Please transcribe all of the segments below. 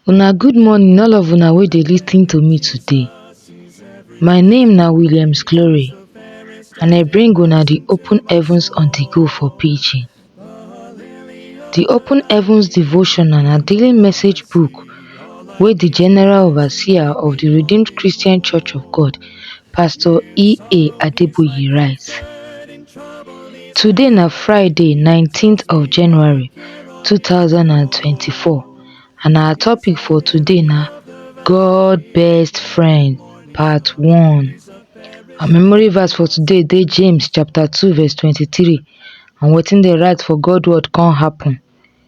Una good morning all of una wey dey lis ten to me today. My name na Williams Glory and I bring una the open heavens on the go for pidgin. The open heavens devotional na daily message book wey the general overseer of the Redeemed Christian Church of God, Pastor E.A. Adeboye write. Today na Friday nineteenth of January two thousand and twenty-four and our topic for today na God best friend part one. Our memory verse for today dey James chapter two verse twenty-three and wetin dey write for God word come happen.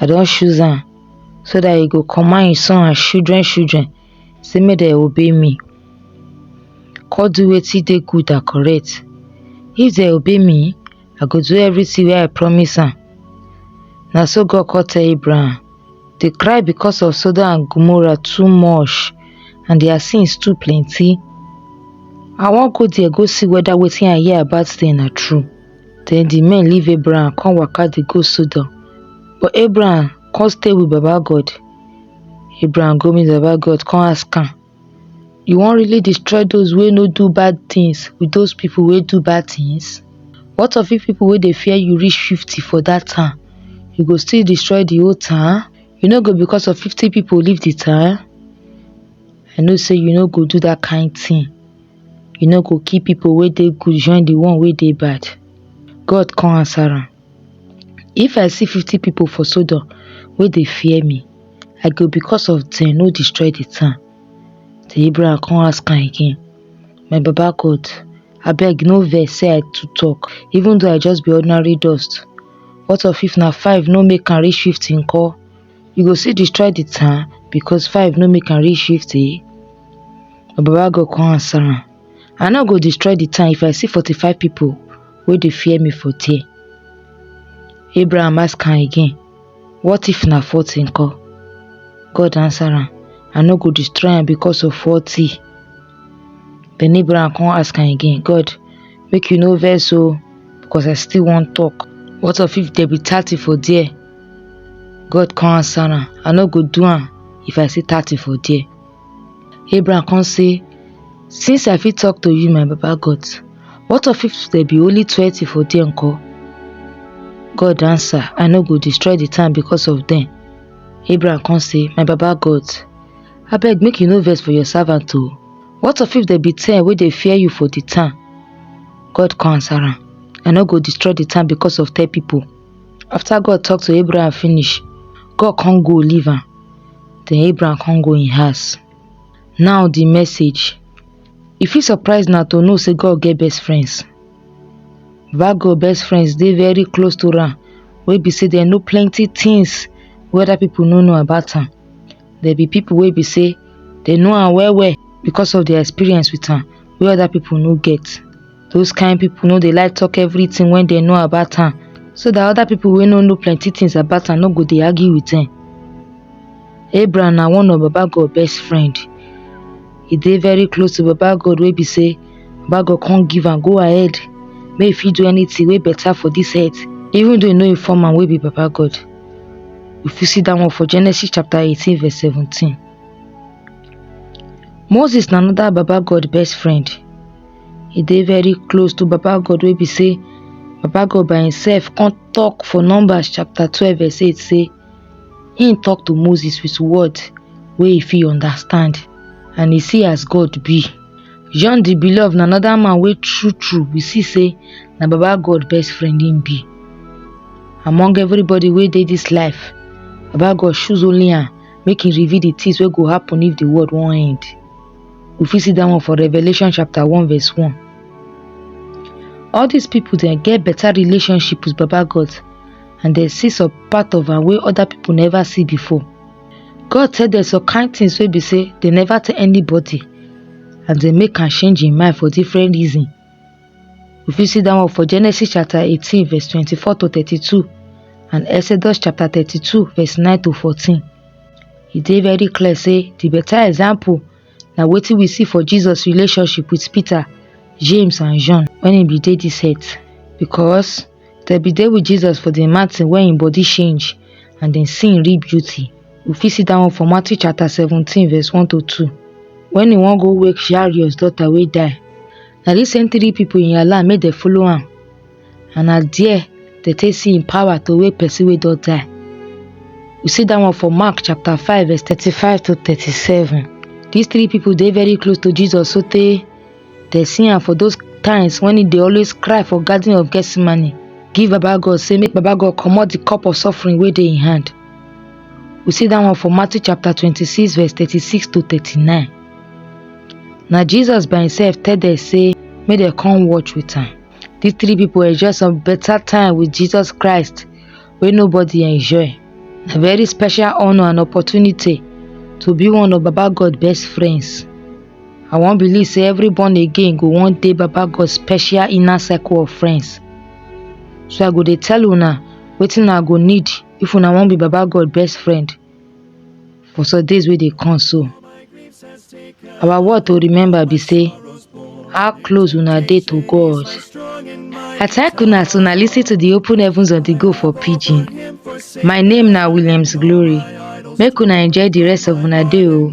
I don choose am so that he go command his son and children children say make they obey me. Come do wetin dey good and correct. If they obey me, I go do everything where I promise am. Now so God called to Abraham, they cry because of Sodom and Gomorrah too much and their sins too plenty. I won't go there go see whether waiting I hear about them are true. Den di men leave Abraham come waka dey go Sodom. But Abraham come stay with Baba God. Abraham go meet Baba God come ask am, You wan really destroy those wey no do bad things with those people wey do bad things? What of if people wey dey fear you reach fifty for that town? You go still destroy the whole town? You no go because of fifty people leave the town? I know say you no go do that kind thing. You no go kill pipu wey dey good join di one wey dey bad? God kon ansa am, If I si fifty pipu for Sodom wey dey fear mi, I go bikos of dem no distroy di town. Den Abraham kon ask am again, My Baba God, abeg no vex sey I too tok, even doh I just bi ordinary dust. What of if na five no make am rish fifty nko? you go still destroy the town because five no make am reach fifty na baba god come answer am i no go destroy the town if i see forty-five people wey dey fear me for there abraham ask am again what if na forty nko god answer am i no go destroy am because of forty then abraham come ask am again god make you no vex o because i still wan talk what of if there be thirty for there God come answer am, I no go do am if I see thirty for there. Abraham come say, Since I fit talk to you, my Baba God, what of if there be only twenty for there nko? God answer, I no go destroy the town because of them. Abraham come say, My Baba God, abeg make you no vex for your servant o. What of if there be ten wey dey fear you for the town? God come answer am, I no go destroy the town because of ten people. After God talk to Abraham finish, God come go leave am. Then Abraham come go im house. Now the message. E fit surprise na to know say God get best friends. Baba God best friends dey very close to am wey be say dem know plenty things wey other people no know about am. There be people wey be say dem know am well well because of their experience with am wey other people no get. Those kind people no dey like talk everything when they know about am so that other people wey no know plenty things about am no go dey argue with them. Abraham na one of Baba God best friend. He dey very close to Baba God wey be say Baba God come give am go ahead make he fit do anything wey better for this earth even though he no inform am wey be Baba God. You fit see that one for Genesis chapter 18 verse 17. Moses na another Baba God best friend. e dey very close to baba god wey be say baba god by himself come talk for numbers chapter twelve verse eight say him talk to moses with word wey he fit understand and he see as god be john the beloved na another man wey true true we see say na baba god best friend him be among everybody wey dey this life baba god choose only am make him reveal the things wey go happen if the world wan end We fit see that one for Revelation chapter 1 verse 1. All these people then get better relationship with Baba God and they see some part of am wey other people never see before. God tell them some kind things wey be say they never tell anybody and they make am change im mind for different reason. We fit see that one for Genesis chapter 18, verse 24 to 32, and Exodus chapter 32, verse 9 to 14. He dey very clear say the better example na wetin we see for Jesus relationship with Peter, James and John when he be dey this earth because Dem bin dey with Jesus for the mountain where him body change and dem see him real beauty. We fit see that one for Matthew chapter 17 verse 1 to 2. When he wan go wake Jairus daughter wey die, na this same three people in alarm make dem follow am. And na there dem take see him power to wake person wey don die. We see that one for Mark chapter 5 verse 35 to 37. These three people dey very close to Jesus sotey Dem see am for those times when he dey always cry for garden of Gethsemane, give Baba God say make Baba God comot the cup of suffering wey dey in hand. We see that one for Matthew chapter 26 verse 36 to 39. Na Jesus by himself tell them say make dem come watch with am. These three people enjoy some better time with Jesus Christ wey nobody enjoy. Na very special honor and opportunity to be one of Baba God best friends. I wan believe say every born again go one day Baba God special inner circle of friends. So I go dey tell una wetin I go need if una wan be Baba God best friend for some days wey dey come so. Our word to remember be say how close una dey to God. I thank una as una lis ten to the open heavens of the go for pidgin. My name na Williams Glory. Make una enjoy the rest of una day o.